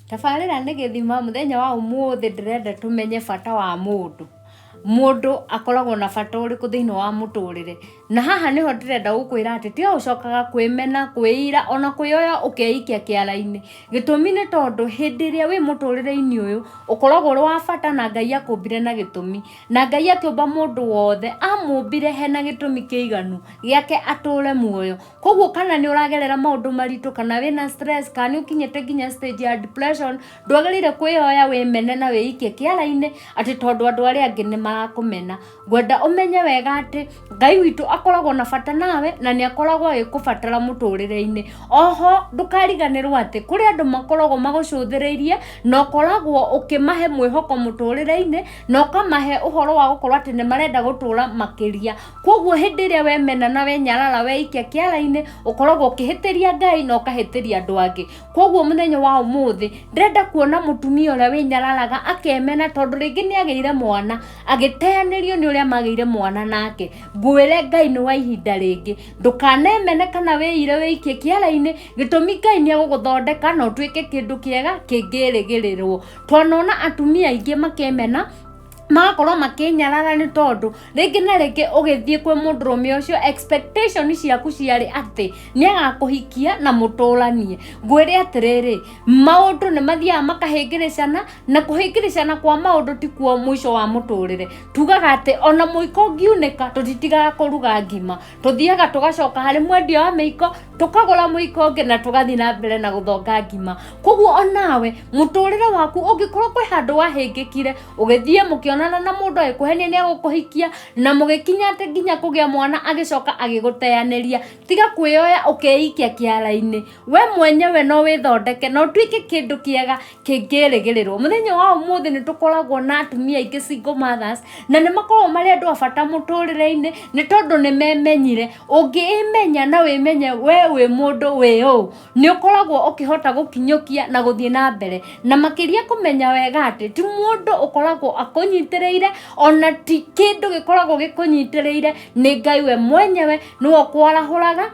tabarĩra nĩ gĩthima mũthenya wa ũmũthĩ ndĩrenda tũmenye bata wa mũndũ mũndũ akoragwo na bata ũrĩkũ thĩinĩ wa mũtũrĩre na haha nĩho ndĩrenda gũkwĩra atĩ tiga ũcokaga kwĩmena kwĩira ona kwĩyoya ũkeikia kĩara-inĩ gĩtũmi nĩ tondũ hĩndĩ ĩrĩa wĩ mũtũrĩre-inĩ ũyũ ũkoragwo ũrĩ wa bata na ngai akũmbire na gĩtũmi na ngai akĩũmba mũndũ wothe amũmbire hena gĩtũmi kĩiganu gĩake atũre muoyo koguo kana nĩ ũragerera maũndũ maritũ kana wĩna stress kana nĩ ũkinyĩte nginya stage ya depression ndwagĩrĩire kwĩyoya wĩmene na wĩikie kĩara-inĩ atĩ tondũ andũ arĩa angĩ nĩ marakũmena ngwenda ũmenye wega atĩ ngai witũ akoragwo na bata nawe na nĩ akoragwo agĩkũbatara mũtũrĩre-inĩ oho ndũkariganĩrwo atĩ kũrĩ andũ makoragwo magũcũthĩrĩirie na ũkoragwo ũkĩmahe mwĩhoko mũtũrĩre-inĩ na ũkamahe ũhoro wa gũkorwo atĩ nĩ marenda gũtũra makĩria kwoguo hĩndĩ ĩrĩa wemena na wenyarara weikia kĩara-inĩ ũkoragwo ũkĩhĩtĩria ngai na ũkahĩtĩria andũ angĩ koguo mũthenya wa ũmũthĩ ndĩrenda kuona mũtumia ũrĩa wĩnyararaga akemena tondũ rĩngĩ nĩ agĩire mwana agĩteanĩrio nĩ ũrĩa magĩire mwana nake ngwĩre ngai nĩ wa ihinda rĩngĩ ndũkanemene kana wĩire wĩikie kĩara-inĩ gĩtũmi ngai nĩ egũgũthondeka na ũtuĩke kĩndũ kĩega kĩngĩrĩgĩrĩrwo twanona atumia aingĩ makĩmena magakorwo makinyarara nĩ tondũ rĩngĩ na rĩngĩ ũgĩthiĩ kwĩ mũndũrũme ũcio expectation ciaku ciarĩ atĩ nĩ agakũhikia na mũtũranie ngwĩre atĩrĩrĩ maũndũ nĩ mathiaga makahĩngĩrĩcana na kũhĩngĩrĩcana kwa maũndũ ti kuo mũico wa mũtũrĩre tugaga atĩ ona mũiko ũngiunĩka tũtitigaga kũruga ngima tũthiaga tũgacoka harĩ mwendia wa mĩiko tũkagũra mũiko ũngĩ na tũgathiĩ na mbere na gũthonga ngima koguo onawe mũtũrĩre waku ũngĩkorwo kwĩ handũ wahĩngĩkire ũgĩthiĩ mũkĩonana na mũndũ agĩkũhenia nĩ agũkũhikia na mũgĩkinya atĩ nginya kũgĩa mwana agĩcoka agĩgũteyanĩria tiga kwĩyoya ũkeikia kĩara-inĩ we mwenyewe no wĩthondeke na ũtuĩke kĩndũ kĩega kĩngĩrĩgĩrĩrwo mũthenya wa ũmũthĩ nĩ tũkoragwo na atumia aingĩ single mothers na nĩ makoragwo marĩ andũ a bata mũtũrĩre-inĩ nĩ tondũ nĩ memenyire ũngĩĩmenya na wĩmenye we wĩ mũndũ wĩ ũũ nĩ ũkoragwo ũkĩhota gũkinyũkia na gũthiĩ na mbere na makĩria kũmenya wega atĩ ti mũndũ ũkoragwo akũnyitĩrĩire ona ti kĩndũ gĩkoragwo gĩkũnyitĩrĩire nĩ ngai we mwenyewe nĩwe ũkwarahũraga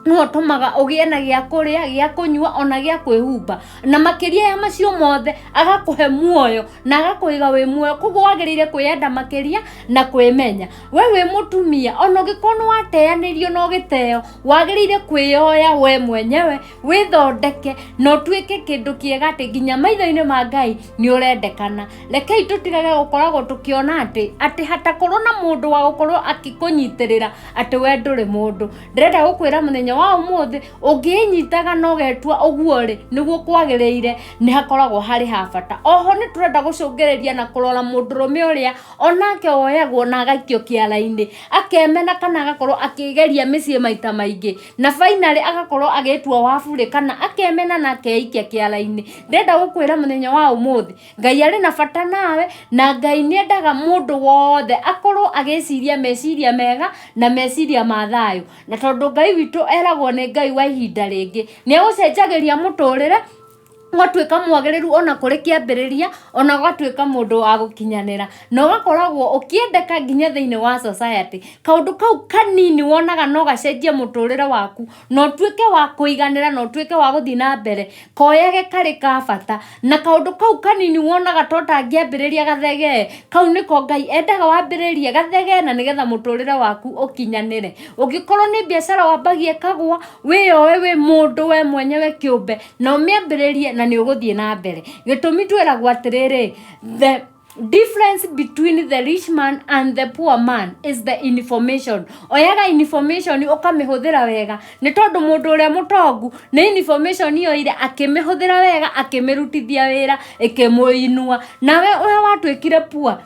nĩwe ũtũmaga ũgĩe na gĩa kũrĩa gĩa kũnyua ona gĩa kwĩhumba na makĩria ya macio mothe agakũhe muoyo na agakũiga wĩ muoyo koguo wagĩrĩire kwĩyenda makĩria na kwĩmenya we wĩ mũtumia ona ũngĩkorwo nĩ wateanĩrio na ũgĩteo wagĩrĩire kwĩyoya we mwenyewe wĩthondeke na ũtuĩke kĩndũ kĩega atĩ nginya maitho-inĩ ma ngai nĩ ũrendekana rekei tũtigage gũkoragwo tũkĩona atĩ atĩ hatakorwo na mũndũ wa gũkorwo akĩkũnyitĩrĩra atĩ we ndũrĩ mũndũ ndĩrenda gũkwĩra mũthenya wa ũmũthĩ ũngĩnyitaga na ũgetua ũguo rĩ nĩguo kwagĩrĩire nĩ hakoragwo harĩ ha bata oho nĩ tũrenda gũcũngĩrĩria na kũrora mũndũrũme ũrĩa onake woyagwo na agaikio kĩara-inĩ akemena kana agakorwo akĩgeria mĩciĩ maita maingĩ na finally agakorwo agĩtua wa burĩ kana akemena na akeikia kĩara-inĩ ndĩrenda gũkwĩra mũthenya wa ũmũthĩ ngai arĩ na bata nawe na ngai nĩ endaga mũndũ wothe akorwo agĩciria meciria mega na meciria ma thayũ na tondũ ngai witũ eragwo nĩ ngai wa ihinda rĩngĩ nĩ egũcenjagĩria mũtũrĩre ũgatuĩka mwagĩrĩru ona kũrĩ kĩambĩrĩria ona ũgatuĩka mũndũ wa gũkinyanĩra na ũgakoragwo ũkĩendeka nginya thĩinĩ wa society kaũndũ kau kanini wonaga no gacenjie mũtũrĩre waku na ũtuĩke wa kũiganĩra na ũtuĩke wa gũthiĩ na mbere koyage karĩ ka bata na kaũndũ kau kanini wonaga to tangĩambĩrĩria gathegee kau nĩko ngai endaga wambĩrĩrie gathegee na nĩgetha mũtũrĩre waku ũkinyanĩre ũngĩkorwo nĩ biacara wambagia ĩkagwa wĩyoe wĩ mũndũ we mwenyewe kĩũmbe na ũmĩambĩrĩrie na nĩ ũgũthiĩ na mbere gĩtũmi twĩragwo atĩrĩrĩ the difference between the rich man and the poor man is the information oyaga information ukamihũthĩra wega nĩ tondũ mũndũ ũrĩa mũtongu nĩ information yoire akĩmĩhũthĩra wega akĩmĩrutithia wĩra ĩkĩmũinua nawe ũrĩa watuĩkire poor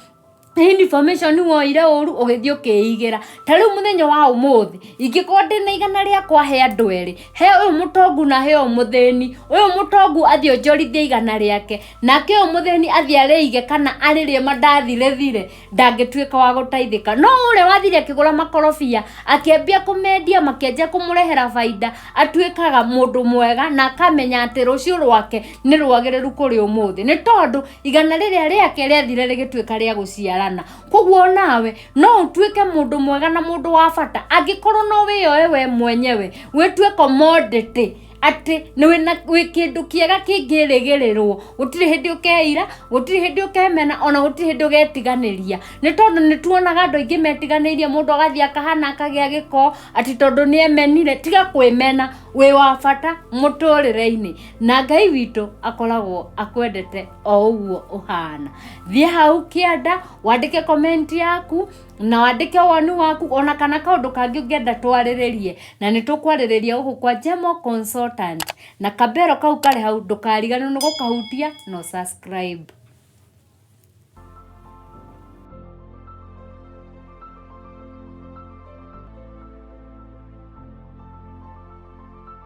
nĩ information woire ũru ũgĩthiĩ ũkĩigĩra ta rĩu mũthenya wa ũmũthĩ ingĩkorwo ndĩna igana rĩakwa he andũ erĩ he ũyũ mũtongu na he ũyũ mũthĩni ũyũ mũtongu athiĩ onjorithie igana rĩake nake ũyũ mũthĩni athiĩ arĩige kana arĩrĩe mandathi rĩthire ndangĩtuĩka wa gũteithĩka no ũrĩa wathire akĩgũra makorobia akĩambia kũmendia makĩanjia kũmũrehera baida atuĩkaga mũndũ mwega na akamenya atĩ rũciũ rwake nĩ rwagĩrĩru kũrĩ ũmũthĩ nĩ tondũ igana rĩrĩa rĩake rĩathire rĩgĩtuĩka rĩa gũciarana koguo nawe no ũtuĩke mũndũ mwega na mũndũ wa bata angĩkorwo no wĩyoe we mwenyewe wĩtue commodity atĩ nĩ wĩna wĩ kĩndũ kĩega kĩngĩrĩgĩrĩrwo gũtirĩ hĩndĩ ũkeira gũtirĩ hĩndĩ ũkemena ona gũtirĩ hĩndĩ ũgetiganĩria nĩ tondũ nĩ tuonaga andũ aingĩ metiganĩirie mũndũ agathiĩ akahana akagĩa gĩko atĩ tondũ nĩ emenire tiga kwĩmena wĩ wa bata mũtũrĩre-inĩ na ngai witũ akoragwo akwendete o ũguo ũhana thiĩ hau kĩanda wandĩke komenti yaku na wandĩke woni waku ona kana kaũndũ kangĩ ũngĩenda twarĩrĩrie na nĩ tũkwarĩrĩria gũkũ kwa Jemo Consultant na kambero kau karĩ hau ndũkariganĩrwo nĩ gũkahutia na ũsubscribe.